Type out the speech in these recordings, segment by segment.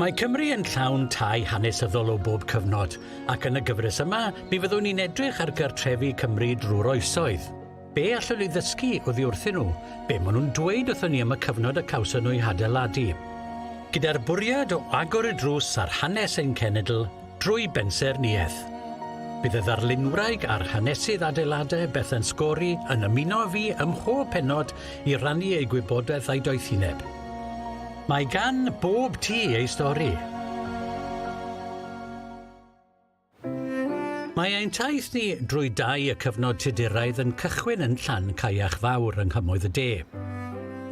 Mae Cymru yn llawn tai hanesyddol o bob cyfnod, ac yn y gyfres yma, mi fyddwn ni'n edrych ar gartrefi Cymru drwy'r oesoedd. Be allwn ni ddysgu oddi wrthyn nhw? Be maen nhw'n dweud wrthyn ni am y cyfnod y cawson nhw'i hadeiladu? Gyda'r bwriad o agor y drws ar hanes ein cenedl, drwy bensaernïaeth. Bydd y ddarlunwraig a'r hanesydd adeiladau Bethan Scory yn ymuno â fi ym mhob pennod i rannu eu gwybodaeth a'i doethineb. Mae gan bob tŷ ei stori. Mae ein taith ni drwy dai y cyfnod Tuduraidd yn cychwyn yn Llan Caiach Fawr yng Nghymoedd y De.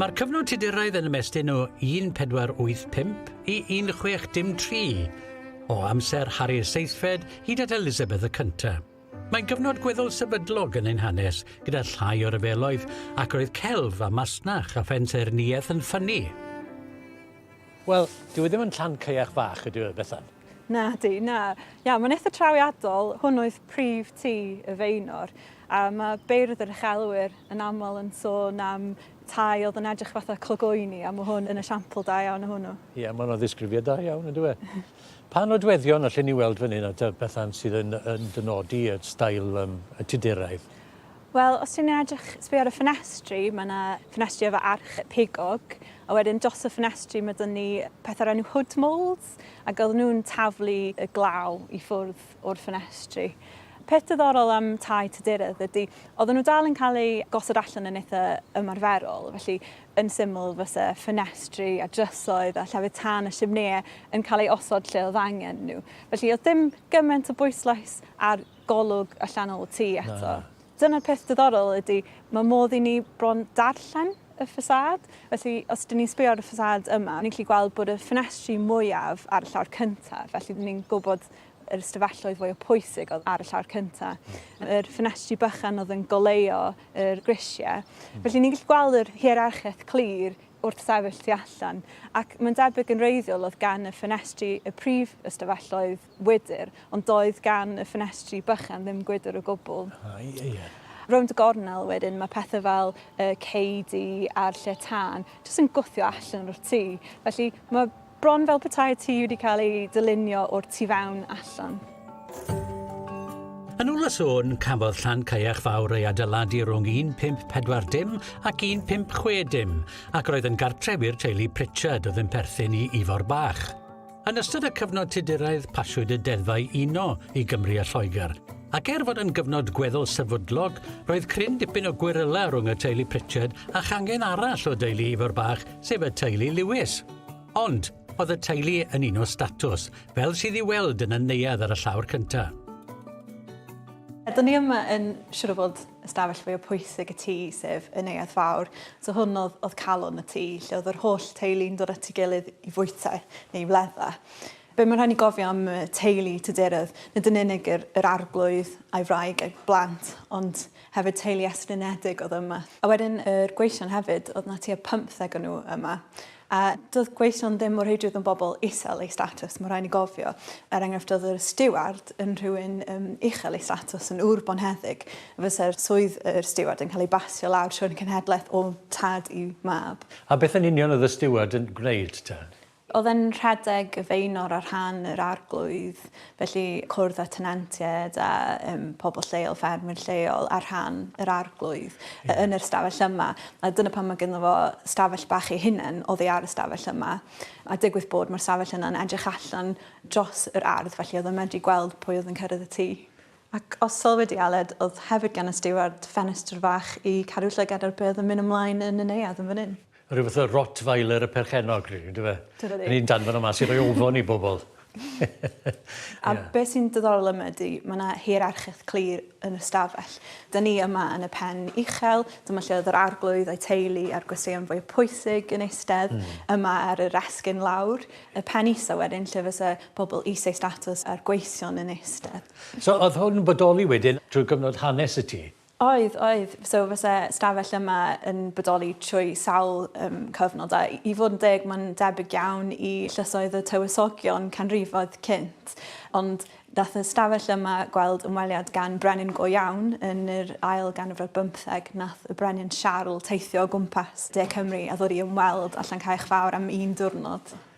Mae'r cyfnod Tuduraidd yn ymestyn o 1485 i 1603 O amser Harri'r Seithfed hyd at Elizabeth y Cynta'. Mae'n gyfnod gweddol sefydlog yn ein hanes, gyda llai o ryfeloedd, ac roedd celf a masnach a phensaernïaeth yn ffynnu. Wel, dyw e ddim yn Llancaeach fach, ydyw e, Bethan? Nadi, na. Ia, mae'n eitha trawiadol. Hwn oedd prif tŷ y Faenor. A mae beirdd yr uchelwyr yn aml yn sôn am tai oedd yn edrych fatha clogoeni, a mae hwn yn esiampl da iawn o hwnnw. Ie, yeah, mae'n ddisgrifiad da iawn, yn dweud. E? pa nodweddion allen ni weld fan hyn at y bethau sydd yn, yn dynodi y stael um, y tuduraidd? Wel, os ti'n edrych, sbio ar y ffenestri, mae yna ffenestri efo arch pigog, a wedyn dros y ffenestri mae dyn ni pethau'r enw hood molds, ac oedd nhw'n taflu y glaw i ffwrdd. o'r ffenestri. Peth diddorol am tai Tuduredd ydy, oedden nhw dal yn cael eu gosod allan yn eitha ymarferol, felly yn syml fysa ffenestri a drysoedd a llefydd tân a simneau yn cael eu osod lle oedd angen nhw. Felly oedd dim gymaint o bwyslais ar golwg allanol y tŷ eto. Na. Dyna'r peth diddorol ydy, mae modd i ni bron darllen y ffasâd. Felly, os dyn ni'n sbio ar y ffasâd yma, ni'n gallu gweld bod y ffenestri mwyaf ar y llawr cyntaf, felly ni'n gwybod yr ystafelloedd fwya pwysig oedd ar y llawr cynta. Yr ffenestri bychan oedd yn goleuo yr grisia. Felly ni'n gallu gweld yr hierarchiaeth clir wrth sefyll tu allan, ac mae'n debyg yn wreiddiol oedd gan y ffenestri y prif ystafelloedd wydr, ond doedd gan y ffenestri bychan ddim gwydr o gwbl. Rownd y gornel wedyn mae pethau fel y ceudi a'r lle tân jyst yn gwthio allan o'r tŷ. Felly mae Bron fel petai tŷ wedi cael ei dylunio o'r tu fewn allan. Yn ôl y sôn, cafodd Llan Caiach Fawr ei adeiladu rhwng 1540 ac 1560 ac roedd yn gartref i'r teulu Pritchard oedd yn perthyn i Ifor Bach. Yn ystod y cyfnod Tuduraidd pasiwyd y deddfau uno i Gymru a Lloegr, ac er fod yn gyfnod gweddol sefydlog, roedd cryn dipyn o gweryla rhwng y teulu Pritchard a changen arall o deulu Ifor Bach, sef y teulu Lewis. Ond, oedd y teulu yn un o statws, fel sydd i weld yn y neuadd ar y llawr cyntaf. Ydyn ni yma yn siŵr o fod ystafell fwy o pwysig y tŷ, sef y neuadd fawr. So hwn oedd, oedd calon y tŷ, lle oedd yr holl teulu'n dod at ei gilydd i fwyta neu i wledda. Be mae'n rhaid ni gofio am teulu Tudurodd, nid yn unig yr, yr arglwydd a'i wraig a'i blant, ond hefyd teulu estrynedig oedd yma. A wedyn yr gweision hefyd, oedd na tua 50 o nhw yma. A doedd gweision ddim mor heidrwydd yn bobl isel ei statws, mae'n rhaid ni gofio. Er enghraifft, oedd yr stiward yn rhywun um, uchel ei statws, yn ŵr bonheddig. Fysa'r swydd yr stiward yn cael ei basio lawr trwy'r cenhedlaeth o tad i mab. A beth yn union oedd y stiward yn gwneud, te? Oedd e'n rhedeg y Faenor ar rhan yr Arglwydd, felly cwrdd â tenantiaid a um, pobl lleol, ffermwyr lleol ar rhan yr Arglwydd yeah. yn yr stafell yma. A dyna pan mae gyda fo stafell bach ei hunain oedd ei ar y stafell yma. A digwydd bod mae'r stafell yna'n edrych allan dros yr ardd, felly oedd yn medru gweld pwy oedd yn cyrraedd y tŷ. Ac os sol wedi Aled, oedd hefyd gan y stiward ffenestr fach i cadw llygad ar beth yn mynd ymlaen yn y neuad yn fan hyn. Rhyw fath o Rottweiler y perchennog rili yndyfe? Tybed i. O'n i'n danfon o mas i roi ofon i bobl. A yeah. be sy'n diddorol yma ydy, mae yna hierarchaeth clir yn y stafell. Da ni yma yn y pen uchel, dyma lle oedd yr arglwydd a'i teulu a'r gwesteion fwy pwysig yn eistedd, mm. yma ar yr esgyn lawr, y pen isa wedyn lle fysa pobl eisiau statws a'r gweision yn eistedd. So oedd hwn yn bodoli wedyn drwy gyfnod hanes y tŷ? Oedd, oedd. So fyse stafell yma yn bodoli trwy sawl um, cyfnod, a i fod yn deg, mae'n debyg iawn i llysoedd y tywysogion canrifoedd cynt. Ond dath y stafell yma gweld ymweliad gan brenin go iawn yn yr ail ganrif ar bymtheg. Nath y brenin Siarl teithio o gwmpas De Cymru a ddod i ymweld â Llancaech Fawr am un diwrnod.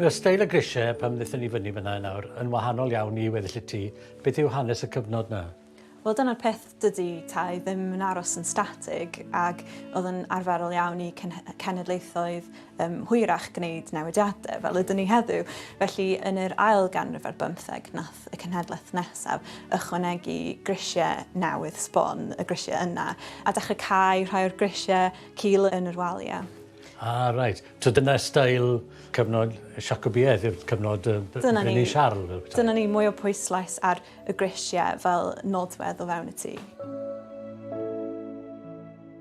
Mae steil y grisiau pan ddethon ni fyny fan'na i nawr yn wahanol iawn i weddill y tŷ. Beth yw hanes y cyfnod 'na? Wel dyna'r peth, dydi tai ddim yn aros yn statig ac oedd yn arferol iawn i cenhedlaethoedd um, hwyrach gwneud newidiadau fel ydyn ni heddiw. Felly yn yr ail ganrif ar bymtheg nath y cenhedlaeth nesaf ychwanegu grisiau newydd sbon y grisiau yna a dechrau cau rhai o'r grisiau cul yn yr waliau. Ah reit. So dyna steil cyfnod y Siacobiaeth yw'r cyfnod yy b- Dyna ni. Brenin Siarl yy ta? Dyna ni, mwy o pwyslais ar y grisie fel nodwedd o fewn y tŷ.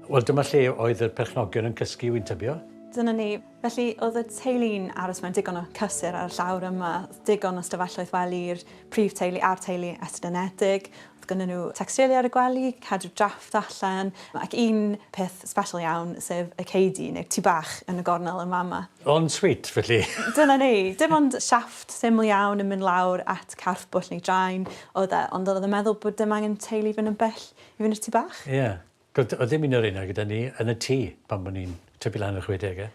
Wel dyma lle oedd y perchnogion yn cysgu wi'n tybio? Dyna ni. Felly oedd y teulu'n aros mewn digon o cysur ar y llawr yma, digon o stafelloedd wely i'r prif teulu a'r teulu estynedig, Oedd gynnon nhw tecstilia ar y gwely, cadw drafft allan, ac un peth sbeshal iawn, sef y ceudi, neu'r tŷ bach yn y gornel yn fama. En suite, felly! Dyna ni. Dim ond siafft syml iawn yn mynd lawr at carff bwll neu draen oedd e, ond oedd o'n meddwl bod dim angen teulu fynd yn bell i fynd i'r tŷ bach. Ie. Doedd doedd dim un o'r rheina gyda ni yn y tŷ pan bo' ni'n tyfu lan yn y chwedege.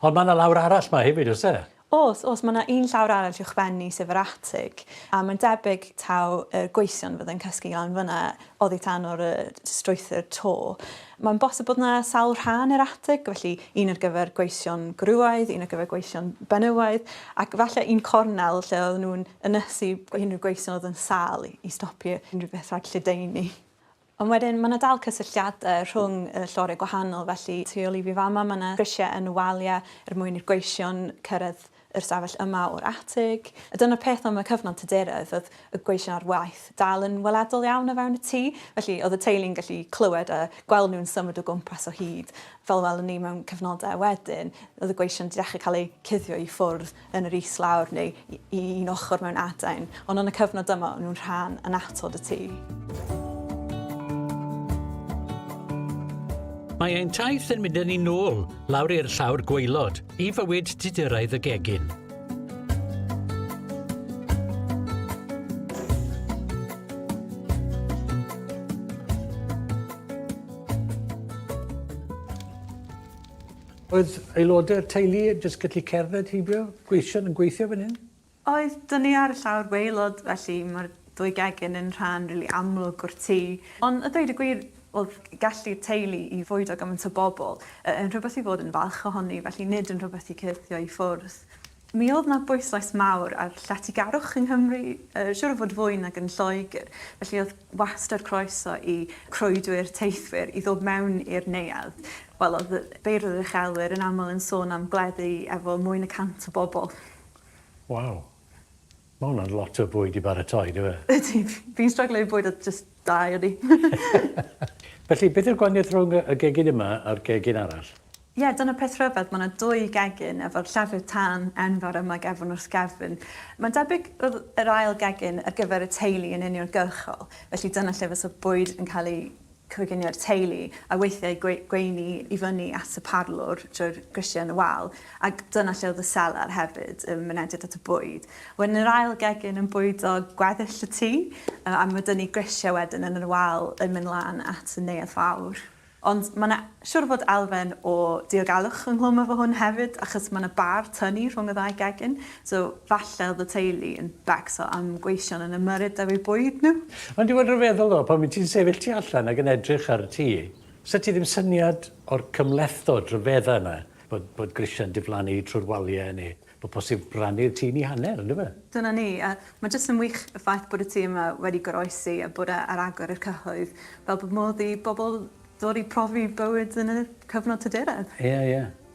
Ond ma' 'na lawr arall 'ma hefyd o's e? O's, o's, ma' 'na un llawr arall uwchben i sef yr atig, a mae'n debyg taw y gweision fydde'n cysgu lan fynna oddi tan o'r yy strwythur to. Mae'n bosib bod 'na sawl rhan i'r atig, felly un ar gyfer gweision gwrywaidd, un ar gyfer gweision benywaidd, ac falle un cornel lle oedden nhw'n ynysu unrhyw gweision oedd yn sâl i i stopio unrhyw beth rhag lledaenu. Ond wedyn, mae 'na dal cysylltiadau rhwng y lloriau gwahanol, felly tu ôl i fi fama mae 'na grisiau yn y waliau er mwyn i'r gweision cyrraedd yr ystafell yma o'r atig. A dyna'r peth am y cyfnod Tuduraidd, oedd y gweision ar waith dal yn weledol iawn o fewn y tŷ, felly oedd y teulu'n gallu clywed a gweld nhw'n symud o gwmpas o hyd. Fel y welwn ni mewn cyfnodau wedyn, oedd y gweision 'di dechrau cael eu cuddio i ffwrdd. yn yr islawr neu i un ochr mewn adain, ond yn y cyfnod yma o'n nhw'n rhan annatod y tŷ. Mae ein taith yn mynd yn ni'n ôl, lawr i'r llawr gwaelod, i fywyd didyraidd y gegin. Oedd aelodau'r teulu jyst gallu cerdded heibio gweision yn gweithio fan hyn? Oedd, dyna ni ar y llawr waelod felly mae'r ddwy gegin yn rhan rili amlwg o'r tŷ. Ond a dweud y gwir oedd gallu'r teulu i fwydo gymaint o bobl yn rhywbeth i fod yn falch ohoni felly nid yn rhywbeth i cyrthio i ffwrdd. Mi oedd 'na bwyslais mawr ar lletygarwch yng Nghymru, siŵr o fod fwy nag yn Lloegr, felly oedd wastad croeso i croedwyr, teithwyr, i ddod mewn i'r neuadd. Wel, oedd y beirdd yr uchelwyr yn aml yn sôn am gleddu efo mwy na 100 o bobl. Waw! Ma hwnna'n lot o bwyd i baratoi, dyw e? Ydi, fi'n stryglo i bwyd oedd jyst da i ynni. Felly, beth yw'r gwahaniaeth rhwng y gegin yma a'r gegin arall? Ie, dyna peth rhyfedd, mae yna dwy gegin efo'r llefrith tân enfawr yma gefn wrth gefn. Mae'n debyg roedd yr ail gegin ar gyfer y teulu yn uniongyrchol, felly dyna lle fysa'r bwyd yn cael ei coginio'r teulu, a weithiau gweini i fyny at y parlwr drwy'r grisiau yn y wal, ac dyna lle oedd y selar hefyd, y mynediad at y bwyd. Wedyn yr ail gegin yn bwydo gweddill y tŷ, a ma' 'da ni grisiau wedyn yn y wal yn mynd lan at y neuadd fawr. Ond ma' 'na siŵr o fod elfen o diogelwch ynghlwm efo hwn hefyd, achos ma' 'na bar tynnu rhwng y ddau gegin, So falle oedd y teulu yn becso am gweision yn y muryd deb eu bwyd nhw? Ond dwi ond yn feddwl ddo, pan wyt ti'n sefyll tu allan ac yn edrych ar y tŷ, sut ti ddim syniad o'r cymhlethdod rhyfedda yna, bod bod grisiau'n diflannu trwy'r waliau neu bod posib rannu'r tŷ yn ei hanner, yn dyfe? Dyna ni, a mae jyst yn wych y ffaith bod y tŷ yma wedi goroesi a bod e ar agor i'r cyhoedd, fel bod modd i bobl ddod i profi bywyd yn y cyfnod tyduredd. Ie, ie.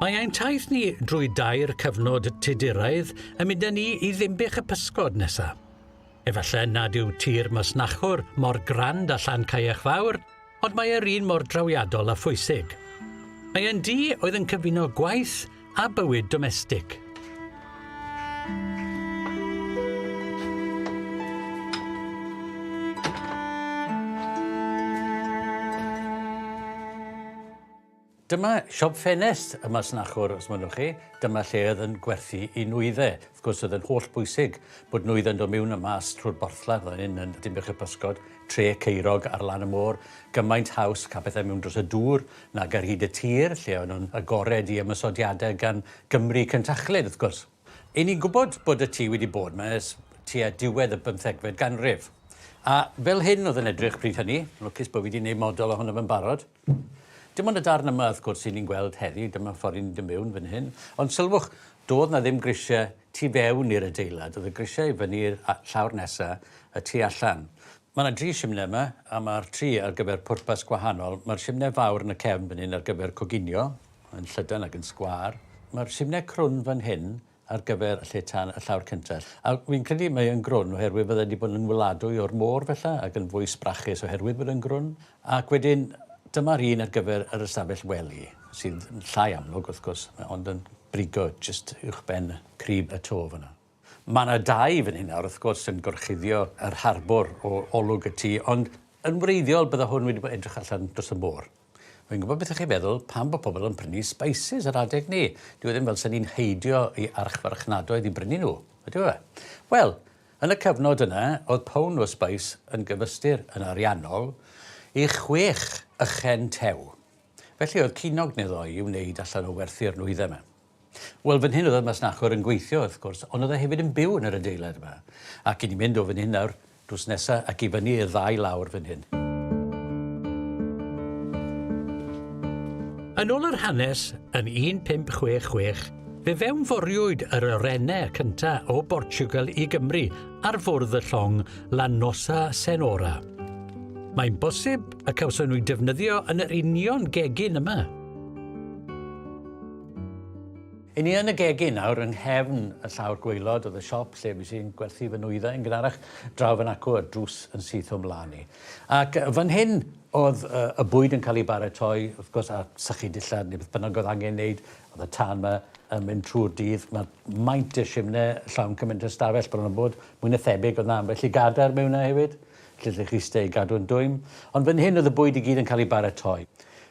Mae ein taith ni drwy dair cyfnod tuduraidd yn mynd â ni i ddimbych y pysgod nesaf. Efallai nad yw tir masnachwr mor grand a llan caeach fawr, Ond mae e'r un mor drawiadol a phwysig. Mae e'n du oedd yn cyfuno gwaith a bywyd domestig. Dyma siop ffenest y masnachwr, os mynnwch chi. Dyma lle oedd yn gwerthu i nwydde. Wrth gwrs, oedd yn holl bwysig bod nwydde'n dod mewn a mas trwy'r borthladd fan hyn yn Dinbych y Pysgod, Tre Ceirog ar lan y môr, gymaint haws cael pethau mewn dros y dŵr nag ar hyd y tir, lle o'n nhw'n agored i ymosodiadau gan Gymry cyntachlyd, wrth gwrs. Y'n ni'n gwybod bod y tŷ wedi bod 'ma ers tua diwedd y bymthegfed ganrif. A fel hyn oedd yn edrych pryd hynny. Lwcus bod fi 'di wneud model ohono fe'n barod. Dim ond y darn yma, wrth gwrs, 'yn ni'n gweld heddi, dyma ffordd 'yn ni'n dod miwn fan hyn. Ond sylwch, do'dd 'na ddim grisiau tu fewn i'r adeilad, o'dd y grisiau i fyny i'r a- llawr nesa, y tu allan. Ma' 'na dri shimne yma, a ma'r tri ar gyfer pwrpas gwahanol. Ma'r shimne fawr yn y cefn fan hyn ar gyfer coginio, yn llydan ac yn sgwâr. Ma'r shimne crwn fan hyn ar gyfer lle tân y llawr cynta. A fi'n credu mae yn grwn oherwydd fydde wedi bod yn weladwy o'r môr fella ac yn fwy sbrachus oherwydd bod yn grwn. Ac wedyn dyma'r un ar gyfer yr ystafell wely sydd yn llai amlwg wrth gwrs ond yn brigo jyst uwchben crib y to fan'na. Mae 'na dai fan hyn nawr wrth gwrs yn gorchuddio yr harbwr o olwg y tŷ ond yn wreiddiol bydde hwn wedi bod edrych allan dros y môr. Fi'n gwybod beth ych chi'n meddwl, pam bod pobl yn prynu spices ar adeg ni? Dyw e ddim fel 'se ni'n heidio i archfarchnadoedd i brynu nhw, ydyw e? Wel, yn y cyfnod yna, oedd pound o spice yn gyfystyr, yn ariannol, i chwech ychen tew. Felly oedd cinog neu ddoi i wneud allan o werthu'r nwyddau 'ma. Wel, fan hyn oedd y masnachwr yn gweithio, wrth gwrs, ond oedd e hefyd yn byw yn yr adeilad yma. Ac i ni mynd o fan hyn nawr, drws nesa ac i fyny i'r ddau lawr fan hyn. Yn ôl yr hanes, yn 1566, fe fewnforiwyd yr orene cynta o Bortiwgal i Gymru ar fwrdd y llong La Nossa Senhora. Mae'n bosib y cawson nhw'u defnyddio yn yr union gegin yma. I ni yn y gegin nawr, yng nghefn y llawr gwaelod oedd y siop lle fys i'n gwerthu fy nwyddau yn gynharach draw fan acw a'r drws yn syth o'm mlan i. Ac fan hyn oedd y bwyd yn cael ei baratoi, wrth gwrs, a sychu dillad neu beth bynnag oedd angen wneud, oedd y tân yma yn mynd trwy'r dydd, mae maint y simne llawn cymaint o stafell bron a bod, mwy na thebyg oedd 'na ambell i gadair mewn 'na hefyd, lle lle chi steu i gadw'n dwym, ond fan hyn oedd y bwyd i gyd yn cael ei baratoi.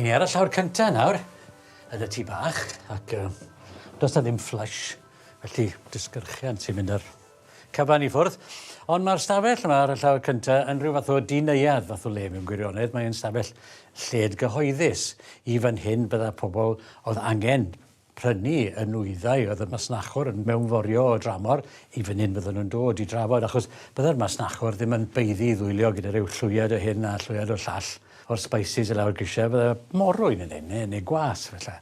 Hyn ni ar y llawr cyntaf nawr, yn y tŷ bach, ac uh, does na ddim fflys, felly disgyrchian sy'n mynd ar cyfan i ffwrdd. Ond mae'r stafell yma ar y llawr cyntaf yn rhyw fath o dineuad fath o le mewn gwirionedd. Mae'n stafell lled gyhoeddus. I fan hyn bydda pobl oedd angen prynu y nwyddau oedd y masnachwr yn mewnforio o dramor, i fan hyn fyddan nhw'n dod i drafod, achos bydde'r masnachwr ddim yn baeddu i ddwylio gyda rhyw llwyed o hyn a llwyed o'r llall o'r spices i lawr grisiau, bydde morwyn yn hyn, neu gwas, falle.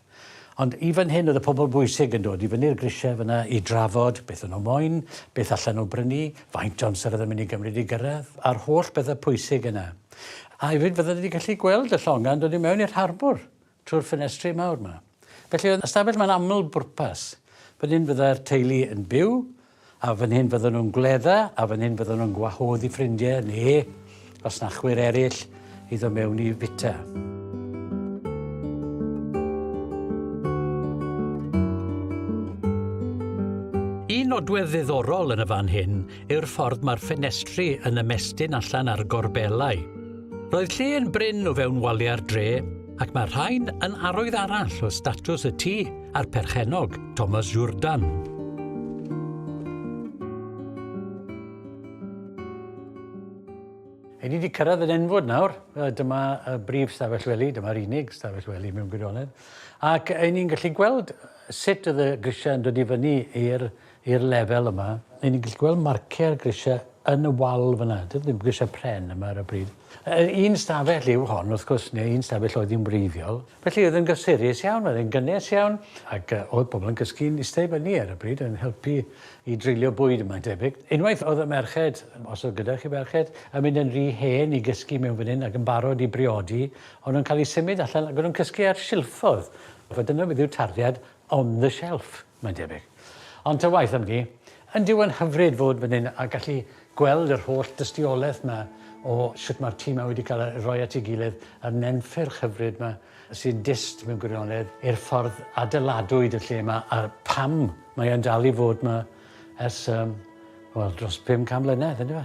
Ond i fan hyn oedd y pobl bwysig yn dod i fyny'r grisiau fanna i drafod beth o'n nhw moyn, beth allan nhw brynu, faint o amser oedd yn mynd i gymryd i gyrraedd, a'r holl bethau pwysig yna. A hefyd fyddan nhw wedi gallu gweld y llongau yn dod i mewn i'r harbwr. trwy'r ffenestri mawr 'ma. Felly oedd ystafell 'ma'n aml bwrpas. Fan hyn fydda'r teulu yn byw, a fan hyn fyddan nhw'n gwledda, a fan hyn fyddan nhw'n gwahodd i ffrindie neu fasnachwyr eraill i ddod mewn i fita. Un nodwedd ddiddorol yn y fan hyn yw'r ffordd mae'r ffenestri yn ymestyn allan ar gorbelau. Roedd lle yn brin o fewn waliau'r dre, ac mae rhain yn arwydd arall o statws y tŷ a'r perchennog, Thomas Jourdan. Ydy wedi cyrraedd yn enfod nawr. Dyma y brif stafell wely, dyma'r unig stafell wely mewn gwirionedd. Ac ydy ni'n gallu gweld sut oedd y grisiau yn dod i fyny i'r i'r lefel yma, ry'n ni'n gallu gweld marciau'r grisiau yn y wal fyna, dydy ddim grisiau pren yma ar y bryd. Yr un stafell yw hon, wrth gwrs, neu un stafell oedd hi'n wreiddiol. Felly oedd yn gysurus iawn, oedd yn gynnes iawn, ac uh, oedd pobl yn gysgu'n eistedd fyny ar y bryd yn helpu i dreulio bwyd yma'n debyg. Unwaith oedd y merched, os oedd gyda chi ferched, yn mynd yn rhy hen i gysgu mewn fan hyn ac yn barod i briodi, ond nhw'n cael eu symud allan ac nhw'n cysgu ar silffodd. Fe dyna beth yw'r tarddiad On the shelf, mae'n debyg. Ond ta waeth am ni, yn dyw e'n hyfryd fod fan hyn a gallu gweld yr holl dystiolaeth yma o sut mae'r tîm yma wedi cael ei roi at ei gilydd a'r nenffyrch hyfryd yma sy'n dyst mewn gwirionedd i'r ffordd adeiladwyd y lle yma a pam mae e'n dal i fod yma ers um, wel, dros 500 mlynedd, yndyfe?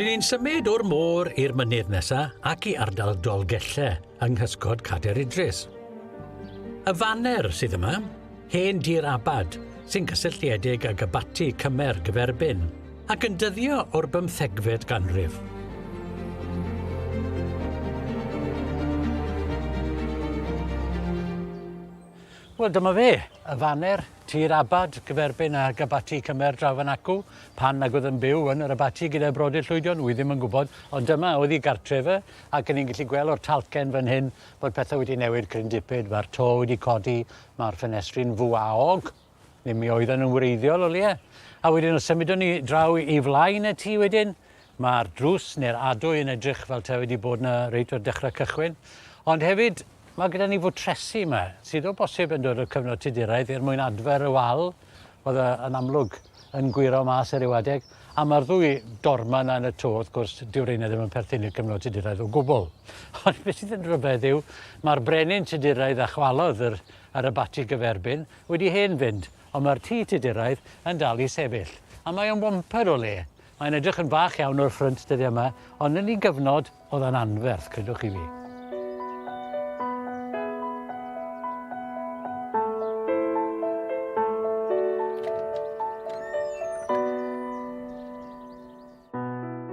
Ry'n ni'n symud o'r môr i'r mynydd nesa ac i ardal Dolgelle yng nghysgod Cader Idris. Y faner sydd yma, hen dir abad, sy'n gysylltiedig ag abaty cymer gyferbyn, ac yn dyddio o'r bymthegfed ganrif. Wel dyma fe, y faner, tir abad, gyferbyn ag abaty cymer draw fan acw, pan nag oedd yn byw yn yr abaty gyda'i brodyr llwydion, wi ddim yn gwybod, ond dyma oedd i gartref e, ac yn ni'n gallu gweld o'r talcen fan hyn bod pethau wedi newid cryn dipyd, mae'r to wedi codi, mae'r ffenestri'n fwaog, ddim mi oedden yn wreiddiol o leia. A wedyn os symudwn ni draw i flaen y tŷ wedyn, Mae'r drws neu'r adwy yn edrych fel taw wedi bod yna reit o'r dechrau cychwyn. Ond hefyd, mae gyda ni fwtresi yma, sydd o bosib yn dod o'r cyfnod Tuduraidd er mwyn adfer y wal, oedd e yn amlwg yn gwyro mas ar ryw adeg, a mae'r ddwy dorma yna yn y to, wrth gwrs, dyw reina ddim yn perthyn i'r cyfnod Tuduraidd o gwbl. Ond beth sydd yn rhyfedd yw, mae'r brenin Tuduraidd a chwalodd yr, yr abati gyferbyn wedi hen fynd, ond mae'r tŷ Tuduraidd yn dal i sefyll. A mae o'n wampad o le. Mae'n edrych yn fach iawn o'r ffrynt dyddiau yma, ond yn un gyfnod oedd o'n anferth, credwch chi fi.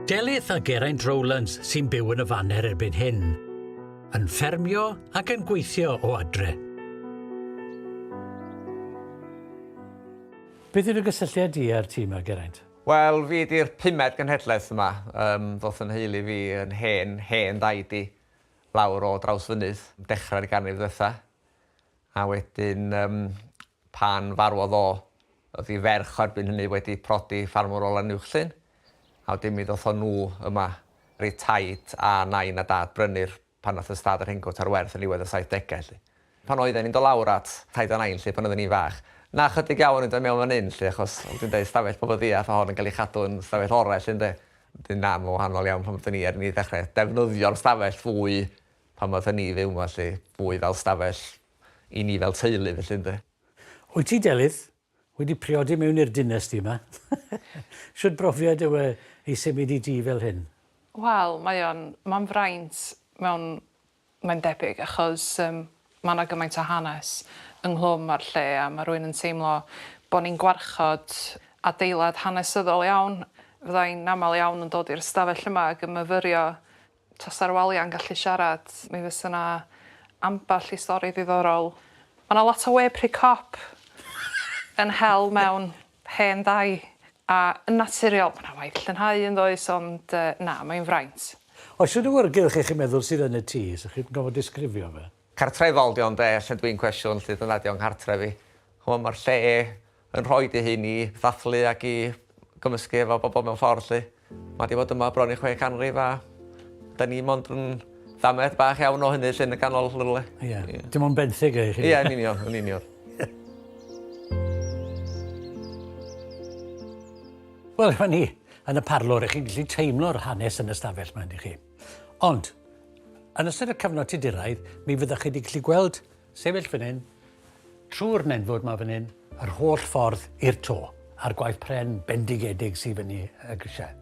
Delyth a Geraint Rowlands sy'n byw yn y faner erbyn hyn, yn ffermio ac yn gweithio o adre. Beth yw'r gysylltiad di â'r tîm a Geraint? Wel, fi ydi'r pumed genhedlaeth yma. Yym, ddoth fy nheulu fi, yn hen, hen ddaid i, lawr o Drawsfynydd, dechrau'r ganrif ddwetha. A wedyn, yym, pan farwodd o, o'dd 'i ferch o erbyn hynny wedi prodi ffarmwr o Lanuwchllyn, a wedyn mi ddothon nhw yma, reit taid a nain a dad, brynu'r pan nath ystâd yr hengwt ar werth yn niwedd y saithdegau 'lly. Pan oedden ni'n do lawr at Taid a Nain 'lly pan oedden ni'n fach. Na chydig iawn yn do mewn fan 'yn 'lly achos fel dwi'n deud stafell pobl ddiarth o hon yn cael ei chadw yn stafell orau 'lly ynde? Wedyn na ma'n wahanol iawn pan oedden ni er ni ddechrau defnyddio'r stafell fwy pan oedden ni fyw 'ma 'lly. Fwy fel stafell i ni fel teulu felly ynde? Wyt ti Delyth? Wedi priodi mewn i'r dinas di yma. Shwt brofiad yw e i symud i dŷ fel hyn? Wel mae o'n, mae'n fraint mewn, mae'n debyg achos yym mae 'na gymaint o hanes ynghlwm â'r lle a mae rhywun yn teimlo bod ni'n gwarchod adeilad hanesyddol iawn. Fydda i'n aml iawn yn dod i'r ystafell yma ag yn myfyrio Tasa Roalia yn gallu siarad mi fysa 'na ambell i stori ddiddorol. Ma' 'na lot o we pry cop yn hel mewn hen ddau a yn naturiol ma' 'na waith llynhau yndoes ond yy na mae'n fraint. Oes unrhyw ŵyrgylch 'y chi'n meddwl sydd yn y tŷ 'sa chi'n gorfod disgrifio fe? Cartref Aldi ond e lle dwi'n cwestiwn lle dyna ydi o'n nghartref i. Ch'mo' ma'r lle yn rhoi dy hun i ddathlu ac i gymysgu efo bobol mewn ffordd 'lly. Ma' 'di bod yma bron i chwe canrif a 'dan ni mond yn damaid bach iawn o hynny 'lly yn y ganol rhywle. Ia. Ia. Dim ond benthyg â chi. Ia yn union yn union. Wel 'ma ni yn y parlwr 'ych chi'n gllu teimlo'r hanes yn y stafell 'ma yndych chi? Ond, yn ystod y cyfnod Tuduraidd, mi fyddwch chi wedi gallu gweld sefyll fan hyn, trwy'r nenfwd mae fan hyn, yr holl ffordd i'r to, a'r gwaith pren bendigedig sydd fyny y grisiau.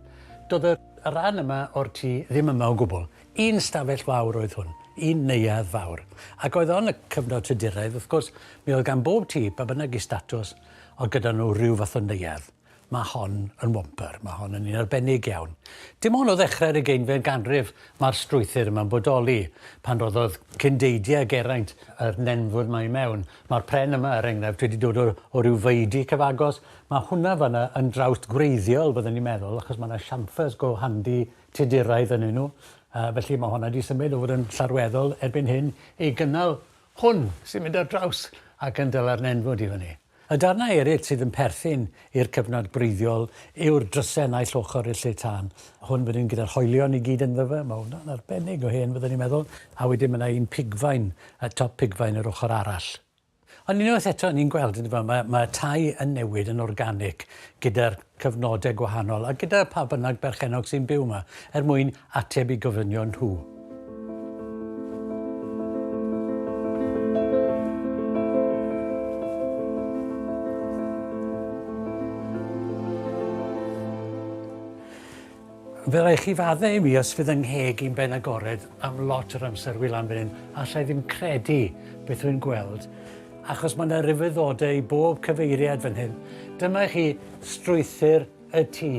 Doedd y y rhan yma o'r tŷ ddim yma o gwbl. Un stafell fawr oedd hwn, un neuadd fawr. Ac oedd on y cyfnod Tuduraidd, wrth gwrs, mi oedd gan bob tŷ, pa bynnag i statws, oedd gyda nhw rhyw fath o neuadd. Mae hon yn womper, mae hon yn un arbennig iawn. Dim ond o ddechrau'r ugeinfed ganrif mae'r strwythur yma'n bodoli. Pan roddodd cyn deidiau Geraint yr nenfwd 'ma i mewn. Mae'r pren yma, er enghraifft, wedi dod o o ryw faeudi cyfagos. Mae hwnna fan'na yn drawst gwreiddiol, byddwn i'n meddwl, achos mae 'na chamfers go handi Tuduraidd ynnyn nhw. Yy felly mae hwnna 'di symud o fod yn llarweddol erbyn hyn i gynnal hwn sy'n mynd ar draws ac yn dala'r nenfwd i fyny. Y darnau eraill sydd yn perthyn i'r cyfnod gwreiddiol yw'r dryse naill ochr i'r lle tân. Hwn fan hyn gyda'r hoelion i gyd ynddo fe, mae hwnna'n arbennig o hen fyddwn i'n meddwl, a wedyn mae yna un pigfain, y top pigfain yr ochr arall. Ond unwaith eto, ni'n gweld yndyfe, mae, mae y tai yn newid yn organig gyda'r cyfnodau gwahanol a gyda pha bynnag berchennog sy'n byw yma, er mwyn ateb i gofynion nhw. Fe rai chi fadde i mi os fydd yng ngheg i'n ben agored am lot o'r amser wyl am fan hyn, allai ddim credu beth rwy'n gweld. achos mae 'na rhyfeddodau i bob cyfeiriad fan hyn. Dyma i chi strwythur y tŷ,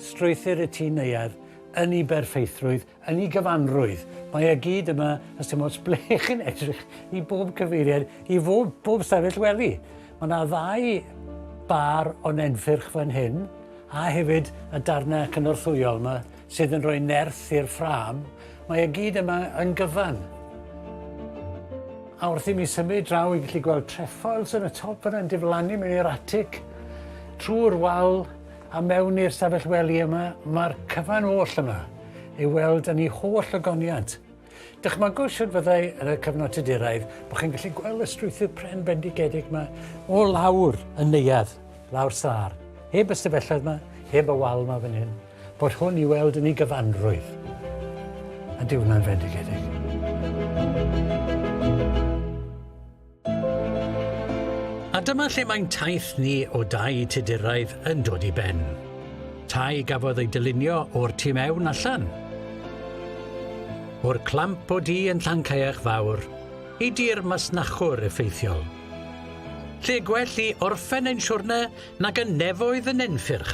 strwythur y tŷ neuadd, yn ei berffeithrwydd, yn ei gyfanrwydd. Mae e gyd yma, os dim ots ble chi'n edrych, i bob cyfeiriad, i bob, bob stafell wely. Mae yna ddau bar o nenffyrch fan hyn, a hefyd y darnau cynorthwyol yma Sydd yn rhoi nerth i'r ffrâm, mae e gyd yma yn gyfan. A wrth i mi symud draw i gallu gweld trefoils yn y top yna'n diflannu mewn i'r atic, trwy'r wal a mewn i'r stafell wely yma, mae'r cyfan oll yma ei weld yn ei holl ogoniant. Dychmygwch siwr fyddai yn y cyfnod Tuduraidd bod chi'n gallu gweld y strwythur pren bendigedig yma o lawr yn neuadd, lawr sâr, heb y stafelloedd yma, heb y wal yma fan hyn. Bod hwn i weld yn ei gyfanrwydd, a dyw hwnna'n fendigedig. A dyma lle mae'n taith ni o dai Tuduraidd yn dod i ben. Tai gafodd ei dylunio o'r tu mewn allan. O'r clamp o du yn Llancaeach Fawr i dir masnachwr effeithiol. Lle gwell i orffen ein siwrne nag yn nefoedd y nenffyrch.